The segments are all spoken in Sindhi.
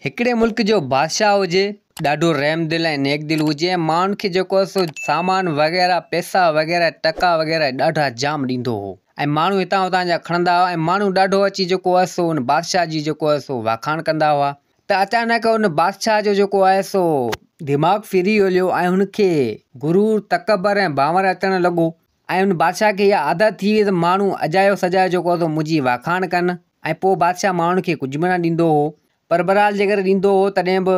هڪڙي ملڪ جو بادشاهه هجي ڏاڍو رحم دل ۽ نيڪ دل هجي ۽ ماڻهن کي جيڪو هو سو سامان وغيره پئسا وغيره ٽڪا وغيره ڏاڍا جام ڏيندو هو ۽ ماڻهو هتان هتان جا کڻندا هئا ۽ ماڻهو ڏاڍو اچي جيڪو هو سو ان بادشاهه جي جيڪو هو سو واکاڻ ڪندا هئا ته اچانڪ ان بادشاهه جو جيڪو آهي سو دماغ ڦري هليو ۽ هن کي غرور تڪبر ۽ ڀانور اچڻ لڳو ۽ ان بادشاهه کي اها عادت ٿي وئي ته ماڻهو اجايو سجايو جيڪو اٿو منهنجي واکاڻ ڪن ۽ پوء بادشاهه ماڻهن کي ڪجهه به نه ڏيندو هو پر بهرحال جيڪڏهن ڏيندو هو تڏهن به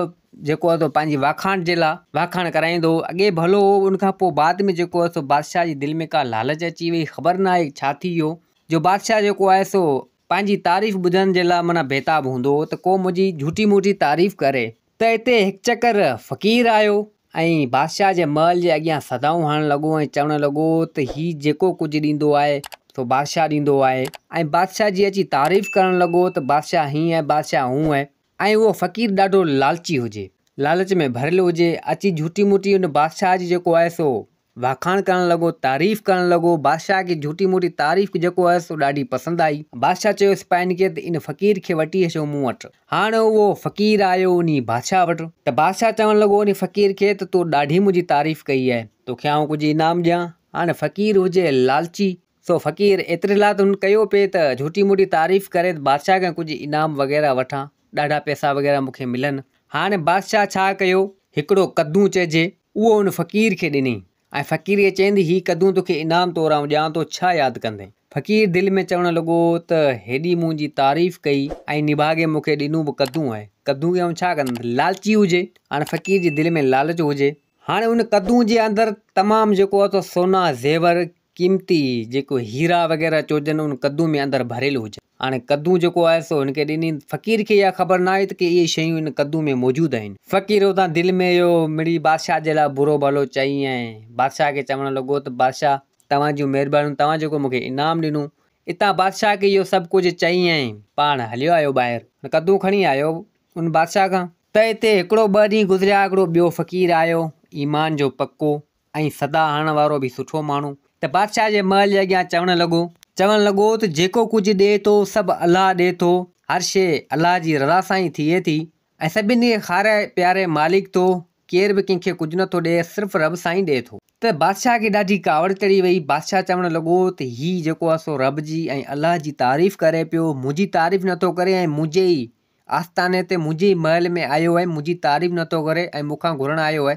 جيڪو اٿو پنهنجي واکاڻ جي لاء واکاڻ ڪرائيندو هو اڳي ڀلو هو ان کان پوء بعد ۾ جيڪو اٿو بادشاهه جي دل ۾ ڪا لالچ اچي وئي خبر ناهي ڇا ٿي ويو جو بادشاهه جيڪو آهي سو پنهنجي تعريف ٻڌڻ جي لاء معنيٰ بيتاب هوندو هو ته ڪو منهنجي جهوٽي موٽي تعريف ڪري. ته اتي هڪ چڪر فقير آيو ۽ بادشاهه جي محل جي اڳيان صدائون هڻڻ لڳو ۽ چوڻ لڳو ته هي جيڪو ڪجهه ڏيندو آهي سو بادشاهه ڏيندو آهي ۽ بادشاهه جي اچي تعريف ڪرڻ لڳو ته بادشاهه هينئن ۽ بادشاهه هونئن ۽ اهو فقير ڏاڍو لالچي هجي لالچ ۾ ڀريل هجي اچي جهوٽي موٽي ان بادشاهه جي جيڪو آهي سو واکاڻ ڪرڻ لڳو، تعريف ڪرڻ لڳو، بادشاهه کي جهوٽي موٽي تعريف جيڪو هيس سو ڏاڍي پسند آئي. بادشاهه چيو سپاهين کي ته ان فقير کي وٺي اچو مون وٽ. هاڻ اهو فقير آيو انهي بادشاهه وٽ. ته بادشاهه چوڻ لڳو انهي فقير کي ته تو ڏاڍي منهنجي تعريف ڪئي آهي، توکي آئون ڪجهه انعام ڏيان. هاڻ فقير هجي لالچي. سو فقير ايتري لاء ته هن ڪيو پئي ته جهوٽي موٽي تعريف ڪري ته بادشاهه کان ڪجهه انعام وغيره وٺان، ڏاڍا پئسا وغيره مون کي ملن. هاڻي بادشاهه ڇا ڪيو، هڪڙو قدون چئجي، اهو هن فقير کي ڏنئين ۽ فقيريء چئندي هي قدون توکي انعام طور آئون ڏيان ٿو، ڇا ياد ڪندين؟ فقير دل ۾ چوڻ لڳو ته هيڏي منهنجي تعريف ڪئي ۽ نڀاڳي مون کي ڏنو به قدون آهي، قدون کي آئون ڇا ڪندس؟ لالچي هجي، هاڻي فقير جي دل ۾ لالچ هجي. هاڻي ان قدون جي اندر تمام جيڪو هو سو سونا، زيور، قيمتي جيڪو هيرا وغيره چوجن ان قدون ۾ اندر ڀريل هجن. هاڻي قدون جيڪو آهي سو هن کي ڏني. فقير کي اها خبر نه آهي ته ڪي اهي شيون ان قدون ۾ موجود آهن. فقير اتان دل ۾ اهو مڙي بادشاهه جي لاء برو ڀلو چئي ۽ بادشاهه کي چوڻ لڳو ته بادشاهه توهان جون مهربانيون توهان جيڪو مون کي انعام ڏنو. اتان بادشاهه کي اهو سڀ ڪجهه چئي ۽ پاڻ هليو آيو ٻاهر. هن قدون کڻي آيو ان بادشاهه کان. ته اتي هڪڙو ٻه ڏينهن گذريا هڪڙو ٻيو فقير آيو ايمان جو پڪو ۽ صدا هڻڻ وارو به سٺو ماڻهو. ته بادشاهه جي محل جي اڳيان چوڻ لڳو. چوڻ لڳو ته جيڪو ڪجهه ڏئي ٿو سڀ الله ڏئي ٿو، هر شيء الله جي رضا سان ئي ٿئي ٿي ۽ سڀني کي کاري پياري مالڪ ٿو، ڪير به ڪنهن کي ڪجهه نه ٿو ڏئي صرف رب سان ئي ڏئي ٿو. ته بادشاهه کي ڏاڍي ڪاوڙ چڙهي وئي، بادشاهه چوڻ لڳو ته هي جيڪو آهي سو رب جي ۽ الله جي تعريف ڪري پيو، منهنجي تعريف نه ٿو ڪري ۽ منهنجي ئي آستاني تي منهنجي ئي محل ۾ آيو ۽ منهنجي تعريف نه ٿو ڪري ۽ مون کان گهرڻ آيو آهي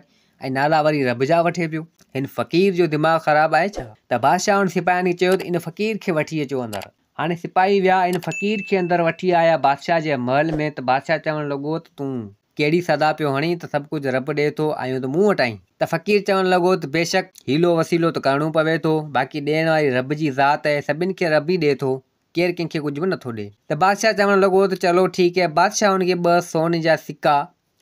۽ نالا وري رب جا وٺي پيو. هن فقير جو دماغ خراب آهي ڇا؟ ته بادشاهه هن سپاهين کي چيو ته ان فقير کي وٺي اچو اندر. هاڻي سپاهي ويا ان فقير کي اندر وٺي آيا بادشاهه جي محل ۾ ته بادشاهه چوڻ لڳو ته تون ڪهڙي صدا پيو هڻين ته سڀ ڪجهه رب ڏئي ٿو آيون ته مون وٽ آهين ته فقير چوڻ لڳو ته بيشڪ حيلو وسيلو ته ڪرڻو پوي ٿو باقي ڏيڻ واري رب جي ذات آهي سڀن کي رب ئي ڏئي ٿو ڪير ڪنهن کي ڪجهه به نه ٿو ڏي. ته بادشاهه چوڻ لڳو ته چلو ٺيڪ هي. بادشاهه هن کي ٻه سون جا سڪا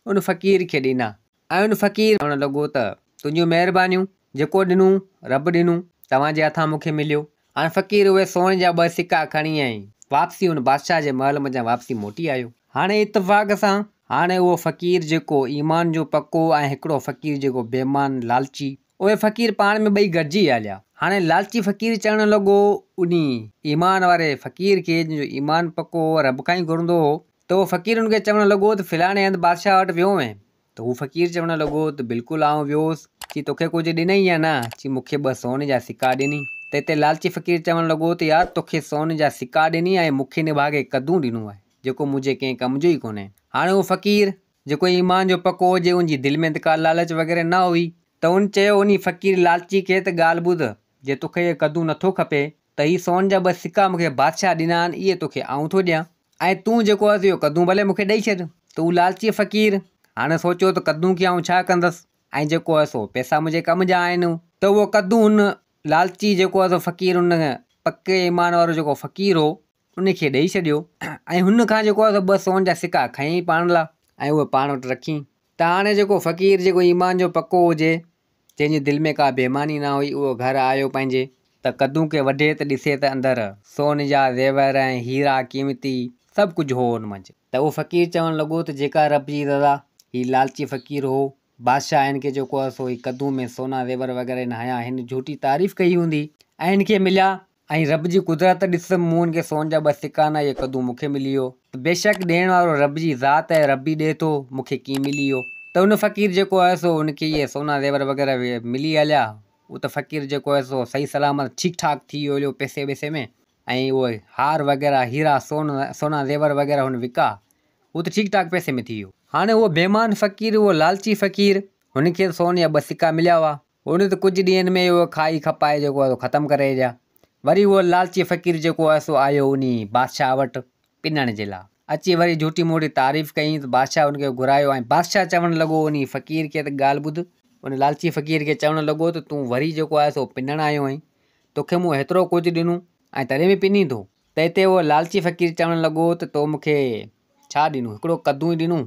ان فقير کي ڏنا ۽ ان فقير چوڻ لڳو ته تنهنجون مهربانيون، جيڪو ڏنون، رب ڏنون، توهان جي هٿان مون کي مليو. هاڻ فقير اهي سون جا ٻه سڪا کڻي ۽ واپسي ان بادشاهه جي محل منجهان واپسي موٽي آيو. هاڻي اتفاق سان هاڻي اهو فقير جيڪو ايمان جو پڪو ۽ هڪڙو فقير جيڪو بيمان، لالچي، اهي فقير پاڻ ۾ ٻئي گڏجي هليا. هاڻي لالچي فقير چئڻ لڳو، انهي ايمان واري فقير کي جنهن جو ايمان پڪو هو، رب کان ئي گهرندو هو، ته اهو فقير ان کي چوڻ لڳو ته فلاڻي هنڌ بادشاهه وٽ ويو هئين؟ ته هو فقير چوڻ لڳو ته بلڪل آئون ويو هوس. چي توکي ڪجهه ڏنئي يا نه؟ چي مون کي ٻه سون جا سڪا ڏني. ته هتي لالچي فقير چوڻ لڳو ته يار توکي سون جا سڪا ڏني ۽ مون کي نڀاڳي قدون ڏنو آهي، جيڪو منهنجي ڪنهن ڪم جو ئي ڪونهي. هاڻي اهو فقير. جيڪو ايمان جو پڪو هجي ان جي دل ۾ ته ڪا لالچ وغيره نه هئي ته ان چيو انهي فقير لالچي کي ته ڳالهه ٻڌ جي توکي هيء قدون نٿو کپي ته هي سون جا ٻه سڪا مون کي بادشاهه ڏنا آهن اهي توکي آئون ٿو ڏيان ۽ تون جيڪو اٿ اهو قدون ڀلي مون کي ڏئي ڇڏ ته هو لالچي فقير هاڻي سوچيو ته قدون کي آئون ڇا ڪندس ۽ جيڪو هئس اهو پئسا منهنجي ڪم جا آهن ته اهو قدون ان لالچي جيڪو هئس اهو فقير ان پڪي ايمان وارو جيڪو فقير هو ان کي ڏئي ڇڏيو ۽ هن کان جيڪو آهي سو ٻه سون جا سڪا کنئي پاڻ لا ۽ اهي پاڻ وٽ رکين. ته هاڻي جيڪو فقير جيڪو ايمان جو پڪو هجي، جنهن جي دل ۾ ڪا بيماني نه هئي، اهو گهر آيو پنهنجي. ته قدون کي وڍي ته ڏسي ته اندر سون جا زيور ۽ هيرا قيمتي سڀ ڪجهه هو ان منجهه. ته اهو فقير چوڻ لڳو ته جيڪا رب جي رضا، هي لالچي فقير هو، بادشاهه هن کي جيڪو آهي سو هي قدون ۾ سونا زيور وغيره هن هنيا، هن جهوٽي تعريف ڪئي هوندي ۽ هن کي مليا ۽ رب جي قدرت ڏس، مون هن کي سون جا ٻه سڪا ڏنا، اهي قدون مون کي ملي ويو. ته بيشڪ ڏيڻ وارو رب جي ذات آهي، رب ئي ڏئي ٿو، مون کي ڪيئن ملي ويو؟ ته ان فقير جيڪو هيس سو ان کي اهي سونا زيور وغيره ملي هليا، هو ته فقير جيڪو هيس سو صحيح سلامت ٺيڪ ٺاڪ ٿي ويو هليو پئسي ٻئسي ۾، ۽ اهي هار وغيره، هيرا، سون، سونا زيور وغيره هن وڪا، هو ته ٺيڪ ٺاڪ پئسي ۾ ٿي ويو. هاڻي اهو بيمان فقير، اهو لالچي فقير، هن کي ته سون جا ٻه سڪا مليا هئا، هن ته ڪجهه ڏينهن ۾ ئي اهو کائي کپائي جيڪو آهي سو ختم ڪري ڇڏيا. وري اهو لالچي فقير جيڪو آهي سو آيو انهي بادشاهه وٽ پنڻ جي لاء. اچي وري جهوٽي موٽي تعريف ڪيائين ته بادشاهه ان کي گهرايو ۽ بادشاهه چوڻ لڳو انهي فقير کي ته ڳالهه ٻڌ، ان لالچي فقير کي چوڻ لڳو ته تون وري جيڪو آهي سو پنڻ آيو آهين، توکي مون هيترو ڪجهه ڏنو ۽ تڏهن به پنين ٿو؟ تنهن تي اهو لالچي فقير چوڻ لڳو ته تو مون کي ڇا ڏنو، هڪڙو قدون ئي ڏنو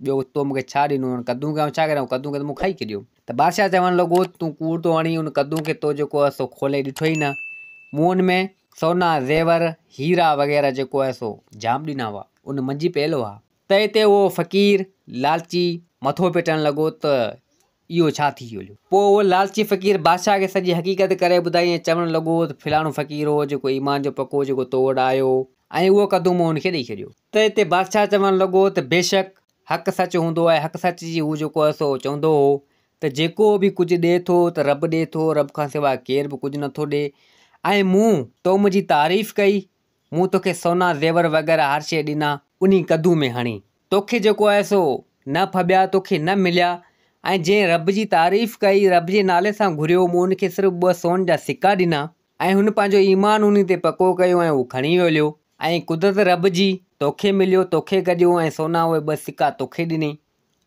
ٻيو تو مون کي ڇا ڏنو هن قدون کي آئون ڇا ڪريان قدون کي ته مون کائي ڇڏيو ته بادشاهه چوڻ لڳو تون ڪوڙ ٿو هڻين ان قدون کي تو جيڪو آهي سو کولي ڏٺو ئي نه مون ان ۾ سونا زيور هيرا وغيره جيڪو آهي سو جام ڏنا هئا ان منجهي پيل هئا تنهن تي اهو فقير لالچي مٿو پٽڻ لڳو ته اهو ڇا ٿي ويو؟ پوء اهو لالچي فقير بادشاهه کي سڄي حقيقت ڪري ٻڌائي ۽ چوڻ لڳو ته فلاڻو فقير هو، جيڪو ايمان جو پڪو هو، جيڪو تو وٽ آيو هو ۽ اهو ڪڌو مون هن کي ڏئي ڇڏيو. ته هتي بادشاهه چوڻ لڳو ته بيشڪ حق سچ هوندو آهي، حق سچ جي هو جيڪو هو سو چوندو هو ته جيڪو به ڪجهه ڏئي ٿو ته رب ڏئي ٿو، رب کان سواء ڪير به ڪجهه نٿو ڏئي ۽ مون تو منهنجي تعريف ڪئي مون توکي سونا زيور وغيره هر شيء ڏنا انهي ڪدو ۾ هڻي توکي جيڪو آهي سو نه ڦٻيا توکي نه مليا ۽ جنهن رب جي تعريف ڪئي رب جي نالي سان گهريو مون ان کي صرف ٻه سون جا سڪا ڏنا ۽ هن پنهنجو ايمان انهي تي پڪو ڪيو ۽ اهو کڻي ويوليو ۽ قدرت رب جي توکي مليو توکي گڏيو ۽ سونا اهي ٻه سڪا توکي ڏني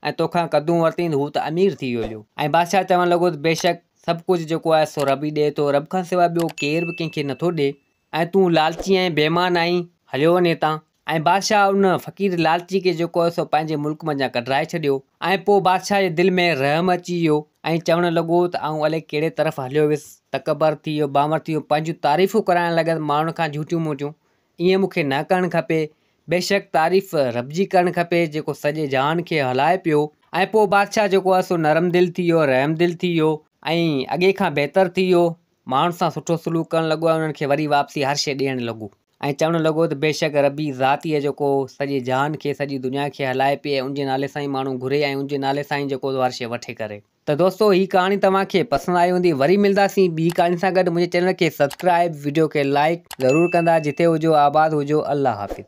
۽ توکان ڪدون ورتين ته هو ته امير ٿي ويوليو ۽ بادشاهه چوڻ لڳو ته بيشڪ سڀ ڪجهه جيڪو آهي سو رب ئي ڏئي ٿو رب کان سواء ٻيو ڪير به ڪنهن کي نٿو ڏئي ۽ تون لالچي ۽ بيمان آهين. هليو وڃ هتان. ۽ بادشاهه ان فقير لالچي کي جيڪو هو سو پنهنجي ملڪ منجهان ڪڍرائي ڇڏيو. ۽ پوء بادشاهه جي دل ۾ رحم اچي ويو، ۽ چوڻ لڳو ته آئون الئي ڪهڙي طرف هليو ويس، تڪبر ٿي ويو، بانور ٿي ويو، پنهنجون تعريفون ڪرائڻ لڳس ماڻهن کان جهوٽيون موٽيون. ائين مون کي نه ڪرڻ کپي. بيشڪ تعريف رب جي ڪرڻ کپي جيڪو سڄي جهان کي هلائي پيو. ۽ پوء بادشاهه جيڪو هو سو نرم دل ٿي ويو، رحم دل ٿي ويو، ۽ اڳي کان بهتر ٿي ويو، ماڻهن سان سٺو سلوڪ ڪرڻ لڳو ۽ انهن کي وري واپسي هر شيء ڏيڻ لڳو. ۽ چوڻ لڳو ته بيشڪ ربي ذات ئي آهي جيڪو سڄي جهان کي، سڄي دنيا کي هلائي پئي ۽ ان جي نالي سان ئي ماڻهو گهري ۽ ان جي نالي سان ئي جيڪو سو هر شيء وٺي ڪري. ته دوستو هي ڪهاڻي توهان کي پسند آئي هوندي وري ملنداسين ٻي ڪهاڻي سان گڏ منهنجي چينل کي سبسڪرائيب وڊيو کي لائيڪ ضرور ڪندا جتي هجو آباد هجو الله حافظ.